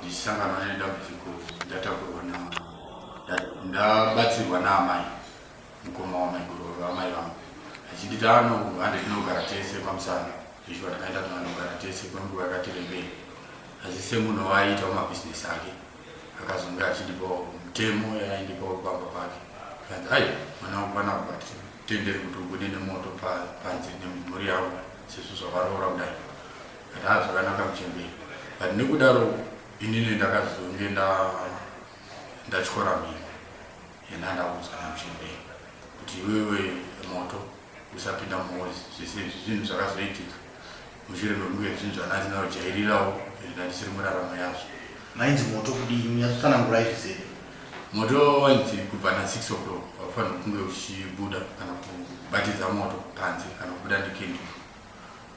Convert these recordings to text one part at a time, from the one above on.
ndichisangana nedambudziko ndatakurwa na ndabatsirwa naamai mukoma wamaiguru amai vangu achinditi ano hande tinogara tese pamusana izvo atakaita tinogara tese kwenguva yakati rebei asi semunhu waaiita wamabhizinesi ake akazonge achindipawo mutemo yaaindipawo pamba pake kanzi ai mwana wangu pana but tenderi kuti ubude nemoto panze nemhuri yavo sezvo zvavaroora kudai Haa zvakanaka muchembere but nekudaro inini ndakazonge ndatyora mhiko yena ndaudzwa namuchembere kuti iwewe moto usapinda mumozi zvese izvi zvinhu zvakazoitika mushure mekunge zvinhu zvananzi ndinojairirawo ndandisiri muraramo yazvo mainzi moto kudii munyatsosanangura izvi sei moto wainzi kubva na6 o'clock wakufanira kunge uchibuda kana kubatidza moto panze kana kubuda nekenduru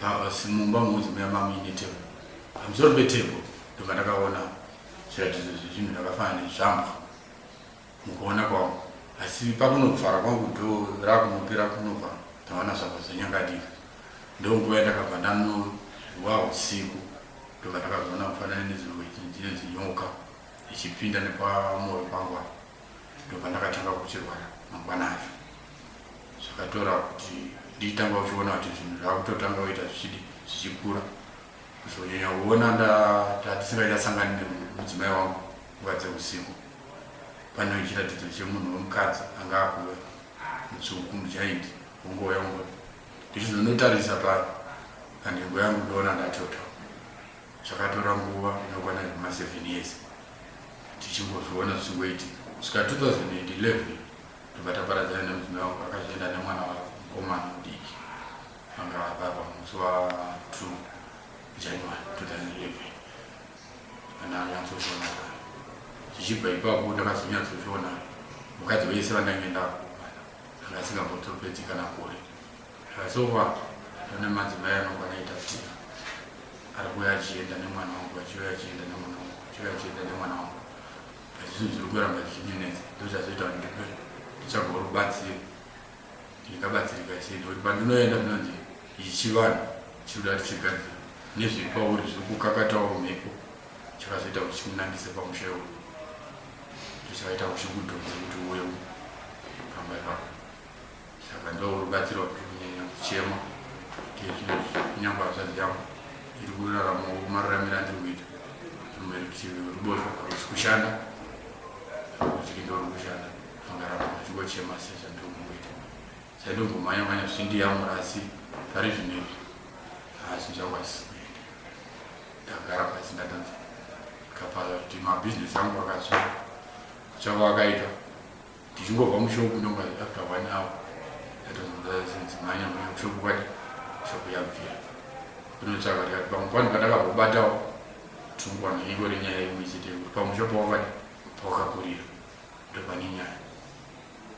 Pasi mumba muuzi muya mamu ine table. Pamusoro pe table ndobva ndakaona zviratidzo zvezvinhu zvakafanana nezvambwa mukuona kwangu. Asi pakunovhara kwangu door rakunopera kunovhara ndaona zvabva zvanyangadika. Ndonguva yandakabva ndanozwa usiku ndobva ndakazoona mufananidzo wechinzi nyoka ichipinda nepamoyo pangu apa. ndopandakatanga kuchirwara mangwana acho zvakatora kuti ndiitanga uchiona kuti zvinhu zvakutotanga kuita zvichidi zvichikura kuzonyanya kuona ndatisingaisasangani nemudzimai wangu nguva dzeusiku pane chiratidzo chemunhu wemukadzi anga akuve mutsvuku mujaindi wongouya ungoti ndichizonotarisa pano panhengo yangu ndoona ndatota Zvakatora nguva inokwana zvema 7 years tichingozviona zvichingoitika kusvika 2011 tobva taparadzana nemudzimai wangu akazoenda nemwana wavo mukomana mudiki vanga vapapa musi wa 2 January 2011 kana anyatsozviona zvichibva ipapo ndakazonyatsozviona mukadzi wese vandange ndakuwana anga asingambotopedzi kana gore Zvasokwa pane madzimai anogona ita kuti ari kuuya achienda nemwana wangu achiuya achienda nemwana wangu achiuya achienda nemwana wangu asi zvinhu zviri kuramba zvichinyinetsa ndozvazoita kuti ndipe ndichago rubatsiro ndikabatsirika sei nekuti pandinoenda ndinonzi ichi chivanhu chiri kuda tichigadzira nezviri pauri zviri kukakatawo mhepo chakazoita kuti chikunangise pamusha iwoyo ndichakaita kuti chikudhonze kuti uye pamba ipapo saka ndorubatsiro rwekunyanya kuchema ndezvinhu kunyangwa hazvadzi yangu iri kurarama mararamiro andiri kuita rumwe rutivi ruboshwa rusi kushanda rutivi ndori kushanda angarama achingochema se zvandiri kumboita zvandimbomhanya mhanya zvindiyamura asi zvare zvinhu izvi haasi zvangu asisi kuenda ndagara pasi ndatanza kapaza kuti mabhizinesi angu akasvika kuchava akaita Tichingobva mushopu normally after one hour yatomudazimhanya mhanya kushopu kwati shopu yabvira kunotsvaka tikati pamwe pano pandakambobatawo tungwana iko renyaya imwe chete yekuti pamwe shopu wakati pawakakurira ndopane nyaya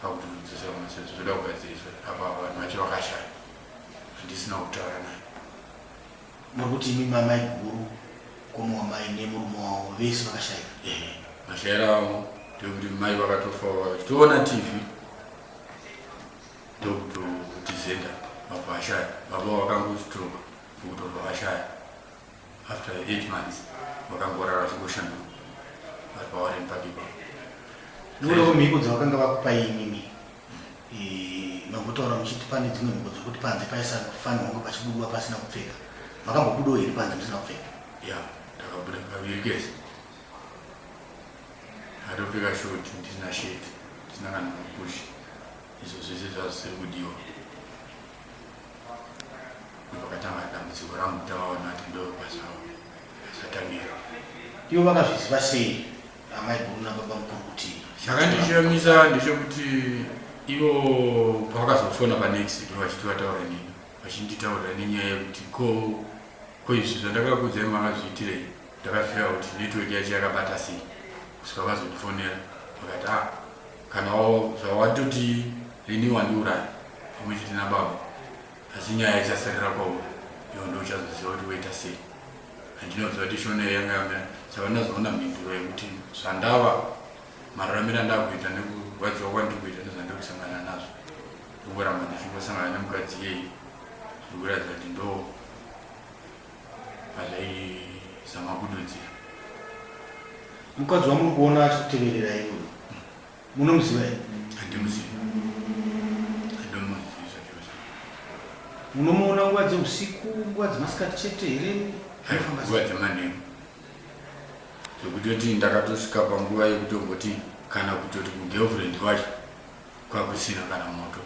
pakuti unodzosera maseso zvoda kugadziriswa apa vanhu vacho vakashaya handisina kutaura naye Nokuti imi mamai guru komo wamai nemurume wavo vese vakashaika. Ehe, mashaira avo ndokuti mai vakatofa vachitoona TV ndokutotizenda vabva vashaya baba vakangostroka ndokutobva vashaya after eight months vakangorara vachingoshanduka vari pawareni pakipa Nokuti mhiko dzavakanga vakupai imimi Makutaura muchiti pane dzimwe mhiko dzekuti panze paisafanirwa kunge pachibudwa pasina kupfeka. Makambobudawo here panze musina kupfeka? Ya, ndakabuda kaviri kese. Atopfeka short ndisina shirt, ndisina kana mapush. Izvo zvese zvazvisiri kudiwa. Ndopakatanga dambudziko rangu tavaona kuti ndopazvawo. Zvatamira. Ivo vakazviziva sei? amaiguru nababamukuru kuti chakandishamisa ndechekuti ivo pavakazofona panext vachiti vataura nini vachinditaurira nenyaya yekuti ko ko izvi zvandakakudzai makazviitirei ndakazvira kuti network yacho yakabata sei kusvika vazondifonera vakati a ah, kana zvawatoti rini wandiuraya pamwe chete nababa asi nyaya ichasarira kwauri ivo ndouchazoziva kuti woita sei Handinoziva kuti shona iyo yanga yamira saka ndazoona mhinduro yekuti zvandava mararamira ndakuita nekurwadziwa kwandiri kuita nezvandiri kusangana nazvo ndikuramba ndichingosangana nemukadzi iyeyi zviri kuratidza kuti ndo pazvaizama kududzira mukadzi wamuri kuona achikuteverera iwe Munomuziva here? Handimuzivi. I don't know his usual dress. Munomuona nguva dzeusiku, nguva dzemasikati chete here? Anofamba Nguva sei? dzemanheru. Zvekutoti ndakatosvika panguva yekutongoti kana kutoti kugirlfriend kwacho kwakusina kana moto.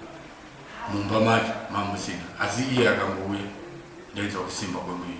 Mumba macho mamusina. Asi iye akangouya ndainzwa kusimba kwemuviri.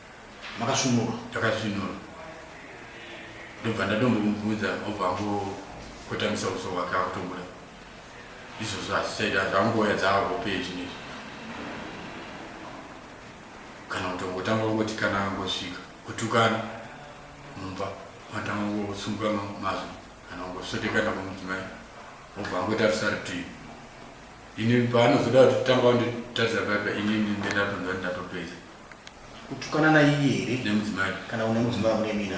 makasvinura takasvinura ndobva ndatombomuudza obva angokotamisa uso hwake akutobuda izvozvo hazvichaita zvangoya dzaavo peji nezvi kana kutongotanga kungoti kana angosvika kutukana mumba matanga kungosunga mazwi kana kungosvotekana kumudzimai obva angotarisa rutivi ini paanozoda kuti tanga wanditarisa paipa inini ndendatonza ndindatopedza kutukana naiye here nemudzimai kana une mudzimai une mina